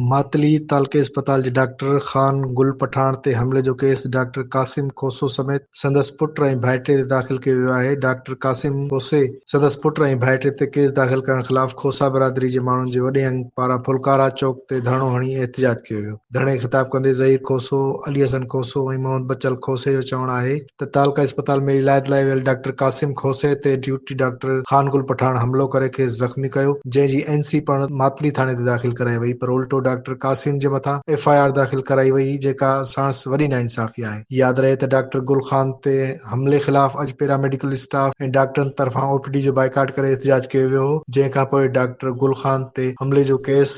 ماتلي تعلقي اسپتال جي ڊاڪٽر خان گل پٺاڻ تي حملي جو ڪيس ڊاڪٽر قاسم کوسو سميت سندس پٽ ۽ ڀائٽي تي داخل ڪيو ويو آهي. ڊاڪٽر قاسم کوسي، سندس پٽ ۽ ڀائٽي تي ڪيس داخل ڪرڻ خلاف کوسا برادري جي ماڻهن جي وڏي انگ پاران ڦلڪارا چوڪ تي ڌرڻو هڻي احتجاج ڪيو ويو. ڌرڻي کي خطاب ڪندي ظهير کوسو، علي حسن کوسو ۽ محمد بچل کوسي جو چوڻ آهي ته تعلقه اسپتال ۾ علاج لاء ويل ڊاڪٽر قاسم کوسي تي ڊيوٽي ڊاڪٽر خان گل پٺاڻ حملو ڪري کيس زخمي ڪيو جنهن جي اين سي پڻ ماتلي ٿاڻي تي داخل ڪرائي وئي پر الٽو ڊاڪٽر قاسم جي مٿان ايف آء آر داخل ڪرائي وئي جيڪا ساڻس وڏي ناانصافي آهي ياد رهي ته ڊاڪٽر گل خان تي حملي خلاف اڄ پيراميڊيڪل اسٽاف ۽ ڊاڪٽرن طرفان او پي ڊي جو بائيڪاٽ ڪري احتجاج ڪيو ويو هو جنهن کانپوء ڊاڪٽر گل خان تي حملي جو ڪيس